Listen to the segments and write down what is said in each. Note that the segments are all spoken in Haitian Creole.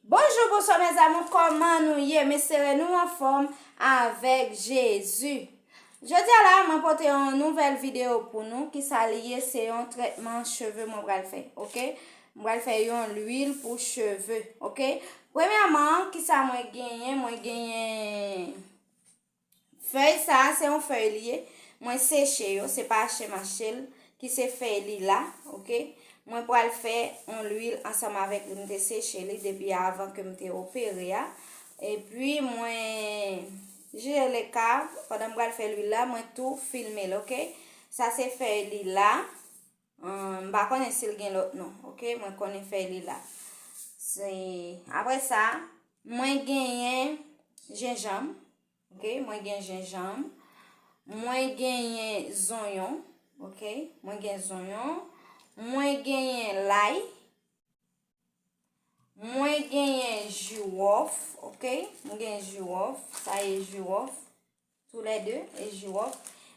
Bonjou bonswa mes amour kòman nou ye m espere nou anfòm avèk Jezi Jodia la mwen pote yon nouvèl video pou nou ki sa li ye se yon trètman cheve mwen pral fè ok mwen pral fè yon lwil pou cheve ok premyèman ki sa mwen genyen mwen genyen Fèy sa se yon fèy li ye mwen seche yo se pa achte mache l ki se fèy li la ok mwen pral fè on lwil ansanm avèk li mte seche li depi avan ke mte opere a epi mwen jire le kav pandan m pral fè lwil la mwen tou filme l ok sa se fèy li la M pa konnen si l gen lòt non. Ok, mwen konnen fèy li la. Se, apre sa, mwen genyen jenjanm. Ok, mwen gen jenjanm. Mwen genyen zonyon. Ok, mwen gen zonyon. Mwen genyen lay. Mwen genyen jiwòf. Ok, mwen genyen jiwòf. Sa ye jiwòf. Tou lè 2 e jirof.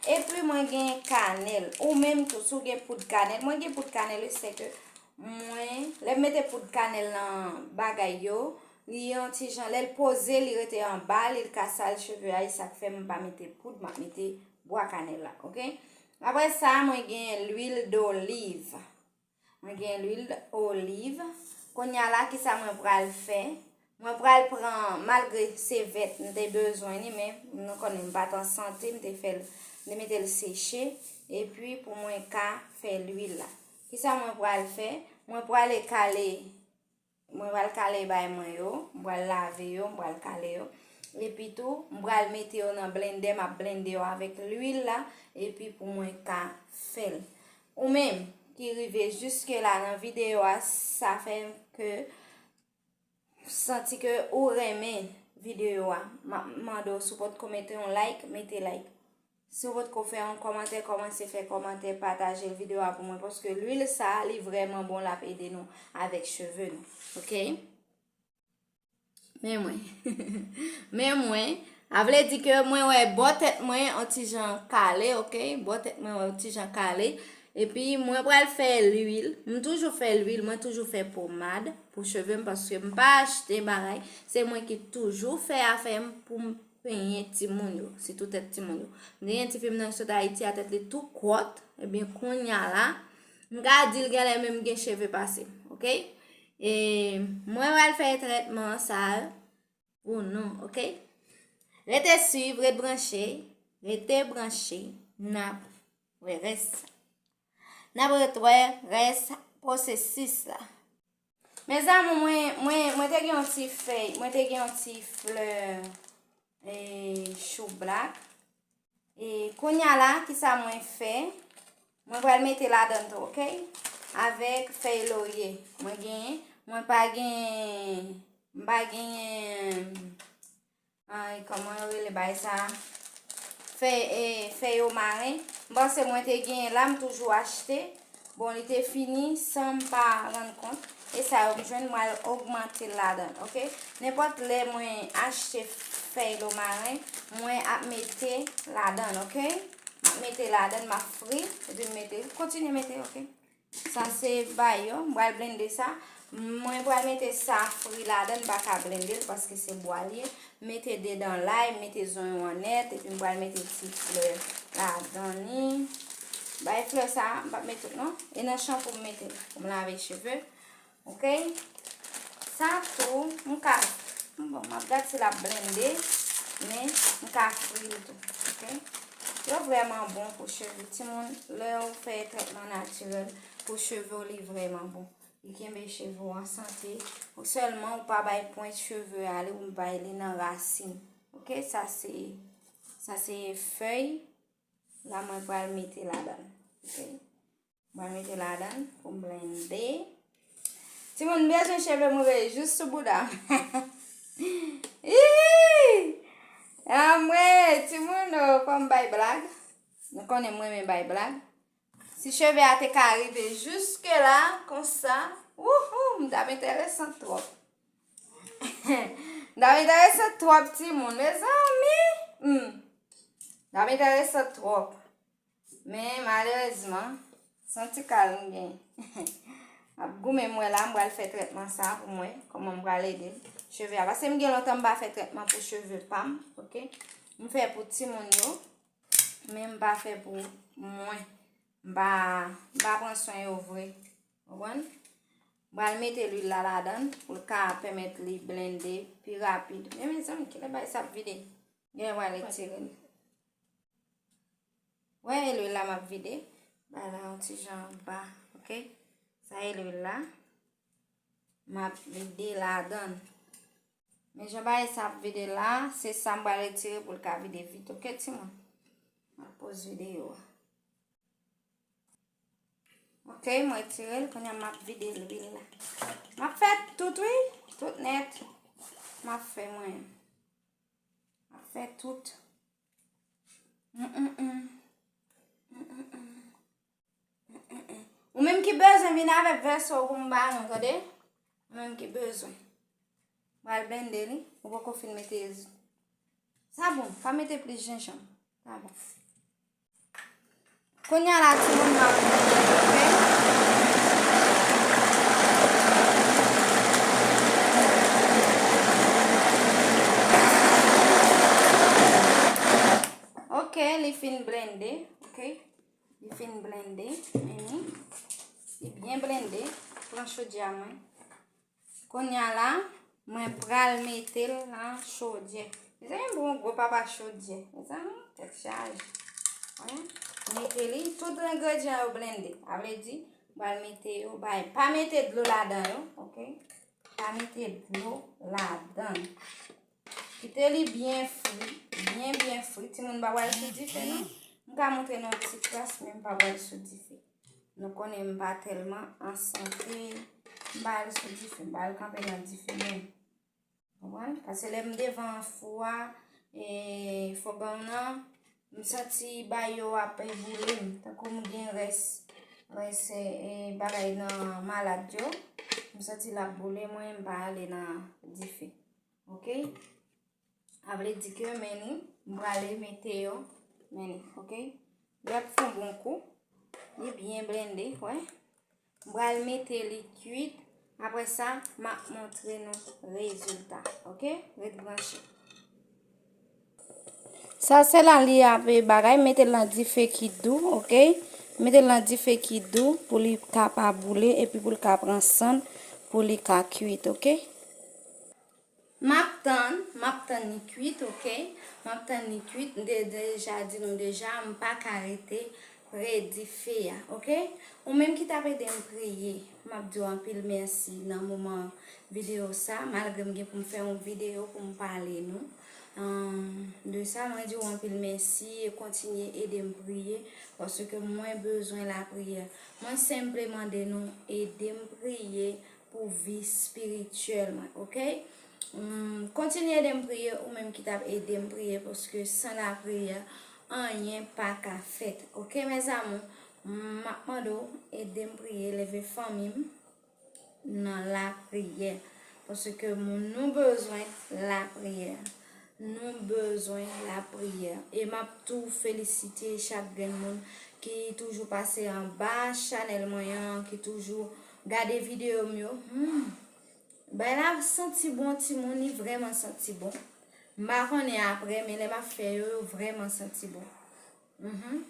Epi mwen gen kanel. Ou menm tou sou gen poud kanel. Mwen gen poud kanel e seke mwen. Lè mete poud kanel nan bagay yo. Li yon ti jan. Lè l pose li rete an ba. Li l ka sal cheve a. E sak fem pa mete poud. Mwen mete bwa kanel la. Ok. Apre sa mwen gen l luil doliv. Mwen gen lwil oliv. Konya la kisa mwen pral fè? Mwen pral pran malgre se vèt m te bezwen ni men nou konnen m pat an sante m te fèl m te metel seche e pi pou mwen ka fè lwil la. Kisa mwen pral fè? Mwen pral ekale Mwen pral kale bay mwen yo. M pral lave yo, m pral kale yo. Epi tou, m pral mete yo nan blendè, m ap blende yo avèk lwil la, epi pou mwen ka fè l. Ou menm ki rive jiske la nan videyo a, sa fè ke santi ke ou renmen videyo a. M ap mande w si w potko mete yon like, mete like. Si ou potko fè yon kòmantè kòmanse fè kòmantè patajel video a pou mwen paske lwil sa li vrèman bon lap ede nou avèk cheve nou ok men mwen men mwen avle di ke mwen wè bò tèt mwen an ti jan kale ok bò tèt mwen wè ti jan kale epi mwen pral fè lwil m toujou fè lwil mwen toujou fè pomad pou cheve m paske m pa achte bagay se mwen ki toujou fè afè m pou m Penyen timoun yo, sitou tèt timoun yo. M te gen ti fi m nan ki sot Ayiti a tèt li tou kòt, ebyen eh kounya la, m ka di l genlè menm gen cheve pase m, ok? E mwen pral fè trètman sa yo pou nou, ok? Rete suiv, rete branche, rete branche, nap wè rès. Nap retwè rès pwosesis la. Mes amour, mwen, mwen, mwen te gen yon ti fèy, mwen te gen yon ti fleur e, chou black. E, kounya la, ki sa mwen fè? Mwen pral mete la dan tou, ok? Avèk fèy lorye, mwen gen, mwen pa gen, mwen pa gen, Ay koman yo rele bay sa Fè e fè yo maren M panse mwen te genyen la m toujou achte Bon li te fini san m pa rann kont E sa yo m jwenn mwen al ogmante l ladan ok Nenpòt lè mwen achte fèy lo maren mwen ap mete ladan ok M ap mete ladan m ap fri epi m mete Kontinye mete ok. Sa se bayo, m pral blende sa, mwen pral mete sa fri ladan m pa ka blende l paske se bwa l ye, m mete 2 dan lay, m mete zonyon an nèt epi m pral mete ti flè ladan ni, bay flè sa, m pap met tout non, e nan chanpou m mete l pou m lave cheve. Ok sa tou m ka bon map gad si lap blende men m ka fril tou ok yo vreman bon pou cheve timoun lew fè tretman natirel pou cheve w li vreman bon li kenbe cheve w an sante ou selman ou pa bay pwent cheve a li ou bay li nan rasin ok sa se sa se fey la mwen pral mete ladan ok Mwen mete ladan pou m blende. Ti moun bezwen cheve m rive jous sou bouda m. Iiii! Amwe, ti moun o, fò m bay blag. Nou konnen mwen men bay blag. Si cheve a te ka rive jouske la, konsa, wouhou, m dam enteresan twòp. M dam enteresan twòp ti moun. Mezanmi! M dam enteresan twòp. Men malerezman, son ti kal m gen. M ap goumen mwen la, m pral fè trètman sa pou mwen. Koman m pral ede cheve a. Pase m gen lontan m pa fè trètman pou cheve pa m. Ok. M fè pou ti moun yo. Men m pa fè pou mwen. M pa pran son yo vre. Wan. M pral mete lwi la la dan. Pou l ka pèmèt li blende pi rapid. Men men zanm ki le bay sa ap vide. Gen yon wale tire. Wè e lwil la map vide. Ba la yon ti jan ba. Ok. Sa e lwil la. Map vide la dan. Men jan ba e sa ap vide la. Se sa mba retire pou lka vide vit. Ok ti moun. Mwen poz vide yo. Ok. Mwen retire l. Konya map vide lwil la. Map fè tout wi. Tout net. Map fè mwen. Map fè tout. Ou menm ki bezwen vin avèk vèso pou m ba nou tande. Ou menm ki bezwen. Bal blende li. Ou poko fin mete. Sa bon. Pa mete plis jenjanm. Sa bon. Konya la ti moun map manje ok. Ok li fin blende ok li fin blende meni li byen blende pran chodyè mwen. Kounya la mwen pral metel nan chodyè. Mezanmi m pran gwo papa chodyè. Mezanmi tèt chaje. Mwen mete li tout engredyan yo blende. A vle di m pral mete yo bay. Pa mete dlo ladan yo. Ok. Pa mete dlo ladan. Kite li byen fri. Byen byen fri. Ti moun pa pral sou dife non. M ka montre nou ti kras men m pa pral sou dife. Nou konnen m pa tèlman an sante. M pa al sou dife. M pa al kanpe nan dife men. Mwen, pase lè m devan fou a, e fò ban nan, m santi ba yo ap e boule m. Tan kou m gen rès, rès e bagay nan malad yo. M santi l ap boule mwen, m pa ale nan dife. Ok? A vle di ke men nou, m prale mete yo men nou, ok? Li ap fon bon kou. Li byen blende, wè. M prale mete li kuit. Apre sa, m ap montre nou rezilta, ok? Ret branche. Sa se la li ap e bagay. Mete l nan dife ki dou, ok? Mete l nan dife ki dou pou li ka pa boule epi pou li ka pran san pou li ka kuit, ok? Map tann, map tann li kwit ok, map tann li kwit m te deja di nou deja m paka rete pre dife a ok, ou menm ki tap edem priye map diw anpil mèsi nan moman video sa malgre m gen pou m fè yon video pou m pale nou de sa mwen diw anpil mèsi e kontinye edem priye paske mwen bezwen lapriyè mwen senple mande nou edem priye. pou vi spirityèl mwen ok kontinye edem priye ou menm ki tap edem priye paske san la priyè anyen pa ka fèt ok mes amour map mande w edem priye leve fanmim nan la priyè paske moun nou bezwen la priyè nou bezwen la priyè e map tou felisite chak grenn moun ki toujou pase anba chanèl mwen an ki toujou Gade video m yo humm. Bay la santi bon timoun li vreman santi bon m pa konnen aprè men lè map fè yo yo vreman santi bon humm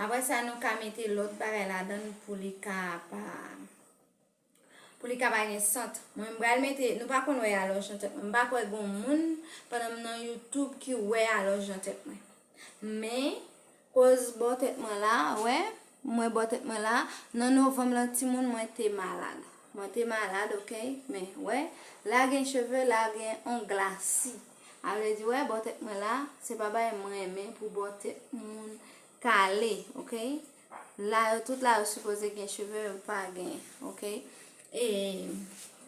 aprè sa nou ka mete lòt bagay ladann pou li ka pa pou li ka pa gen sant mwen m pral mete nou pa konn wè alòj nan tèt mwen m pa kwè gon moun pandan m nan youtube ki wè alòj nan tèt mwen. Men, koz bò tèt mwen la, wè, mwen bò tèt mwen la, nan novanm lan timoun mwen te malad. Mwen te malad, ok, men, wè, la gen cheve, la gen on glasi. A vle di, wè, bò tèt mwen la, se pa bagay m renmen pou bò tèt moun kale, ok. La yo tout la yo sipoze gen cheve men pa gen ok e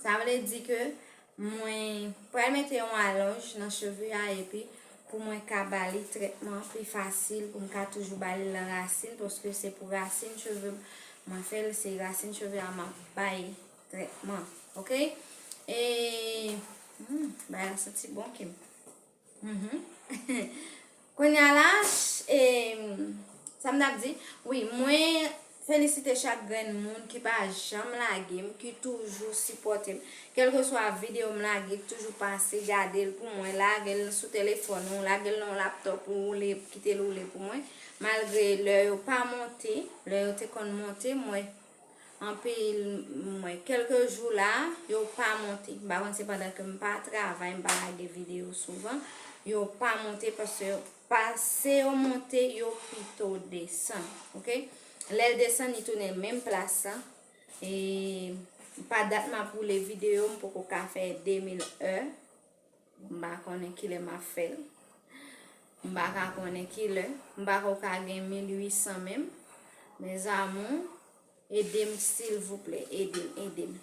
sa vle di ke mwen pral mete yon alonj nan cheve a epi pou mwen ka bali tretman pi fasil pou m ka toujou bali lan rasin paske se pou rasin cheve mwen fel se rasin cheve a map bay tretman ok e hmm, bay la santi bon kem. Kounya la sa m tap di wi mwen felisite chak grenn moun ki pa janm lage m ki toujou sipòte m kelke swa videyo m lage toujou pase gade l pou mwen lage l sou telefòn ou lage l nan w laptop ou oule kite l oule pou mwen malgre lè yo pa monte lè yo te konn monte mwen Anpil m wè kelke jou la yo pa monte. M pa konn se pandan ke m pa travay, m pa lage video souvan. Yo pa monte paske yo pa se yo monte yo pito desan. Ok. Lèl desan li tounen menm plas la. E pa dat m ap woule video m poko ka fè 2000 è. M pa konnen kilè m ap fè l. M pa ka konnen kilè. M pa ko ka gen 1800 menm. Mes amours, ede m silvouplè. Ede m, ede m.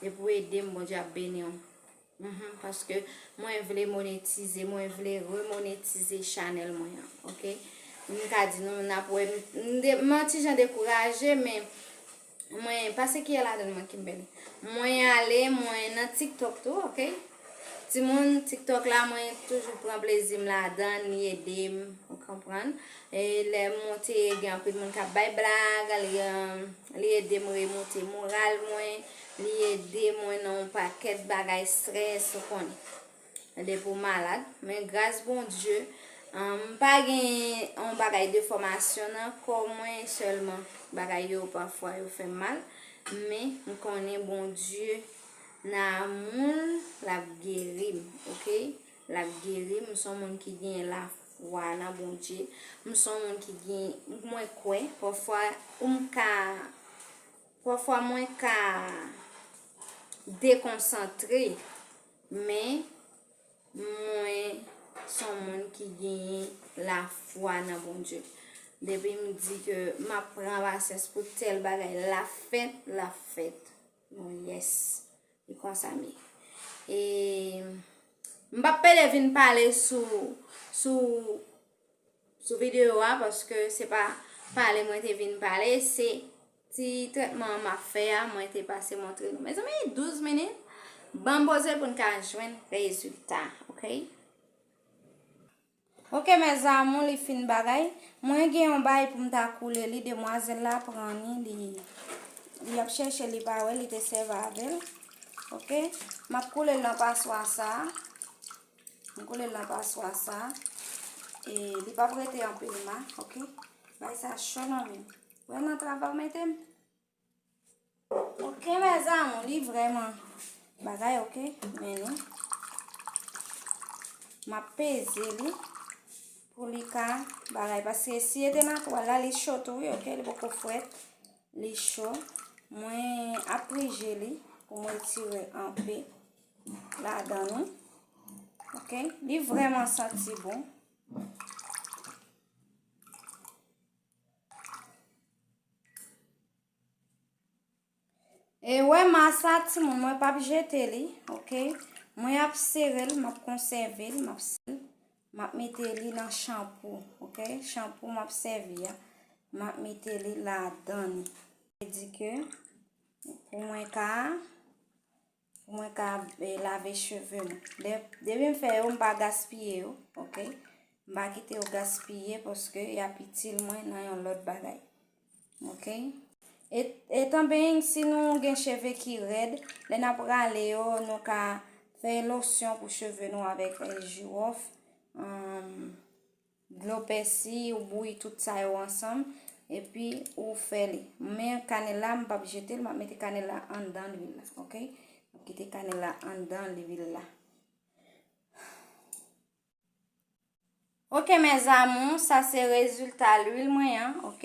Depi w ede m, Bondye ap beni w. Uhmm, paske mwen vle monetize, mwen vle remonetize chanèl mwen an. Ok? M ka di nou, n ap wè. M nan ti jan dekouraje, men. Mwen pase kiyè ladann mwen kimbel. Mwen ale mwen nan tiktok tou ok timoun tiktok la mwen toujou pran plezim ladan li edem ou konprann e lè monte gen anpil moun kap bay blag li li edem remonte moral mwen li edem mwen nan yon pakèt bagay strès ou konn Depi w malad, men gras Bondye, m pa gen yon bagay de fòmasyon nan kò mwen sèlman. Bagay yo pafwa yo fè m mal, men m konnen Bondye nan amou l l ap geri m, ok. L ap geri m, m son moun ki gen lafwa nan Bondye. M son moun ki gen, mwen kwè, pafwa ou m ka, pafwa mwen ka dekonsantre. Men, mwen s on moun ki genyen lafwa nan Bondye. Depi m di ke m ap pran pasyans pou tèl bagay, l ap fèt, l ap fèt. Mwen yès. E konsa m ye. E m p ap pede vin pale sou, sou. sou video a paske se pa pale mwen te vin pale se ti tretman ma fè a mwen te pase montre nou mezanmi 12 minit ban boze pou n ka jwenn rezulta ok ok mezanmou li fin bagay mwen gen yon bay pou m ta koule li demwazel la pran ni li li ap chèche li pa wè li te sèv avèl ok map koule l nan paswa sa a M koule l nan paswa sa. E li pap rete anpil ma, ok. Bay sa cho nan men. Ou wè nan travay ou mete m? Ok, mè zamou, li vreman bagay, ok. Men nou. M ap peze li. Pou li ka bagay. Paske si e te nan twal la, li cho tou, ok. Li pou kou fwet. Li cho. Mwen ap prije li. Pou mwen tire anpe. ladan nou. Ok, li vreman santi bon. E wè masa ti moun mwen pap jete li. Ok, mwen ap sere li, map konseve li, map sere li. Map mete li nan chanpou. Ok, chanpou map seve ya. Map mete li ladan nou. Mwen di ke pou mwen ka a. Pou mwen ka e, lave cheve mwen. De, depi m fè yo, m pa gaspiye yo, ok? M pa kite yo gaspiye paske y ap itil mwen nan yon lòt bagay. Ok? E, etan being, si nou gen cheve ki rèd, lè n ap rale yo, nou ka fè losyon pou cheve nou avèk jiwòf. Um, Dlo pèsi ou bouyi tout sa yo ansanm epi ou fè li. Men kanèl la m pap jete l, map mete kanèl la anndan lwil la ok. Map kite kanèl la anndan lwil la. Ok mes amours, sa se rezilta lwil mwen an ok.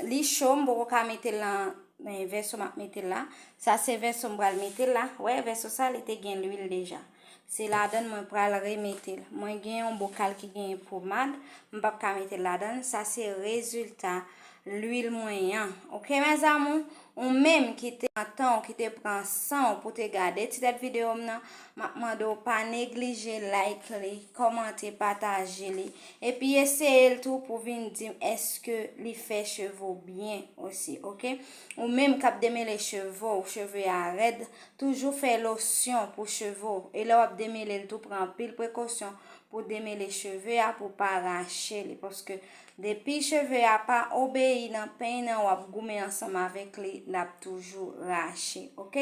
Li cho m poko ka mete l nan vèso map mete l la. Sa se vèso m pral mete l la. Wè vèso sa li te gen lwil deja. Se ladann mwen pral remetel. Mwen gen yon bokal ki gen pomad. M pap ka metel ladann. Sa se rezilta lwil mwen yan. Ok mes amour. Ou menm ki te pran tan ou, ki te pran san ou pou te gade ti tèt video m nan. Map mande ou pa neglije like li, komante, pataje li. E pi eseye l tou pou vin di m eske li fè cheve ou byen osi. Ok. Ou menm kap demele cheve ou, cheve a red. Toujou fè losyon pou cheve w e lè w ap demele l tou pran anpil prekosyon pou demele cheve a pou pa rache li paske depi cheve a pa obeyi nan peny nan w ap goumen ansanm avèk li l ap toujou rache ok.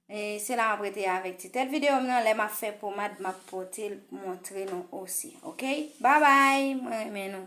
E se la m ap rete avèk ti tèt videyo m nan lè m ap fè pomad m ap pote l montre nou osi ok. Babay mwen renmen nou.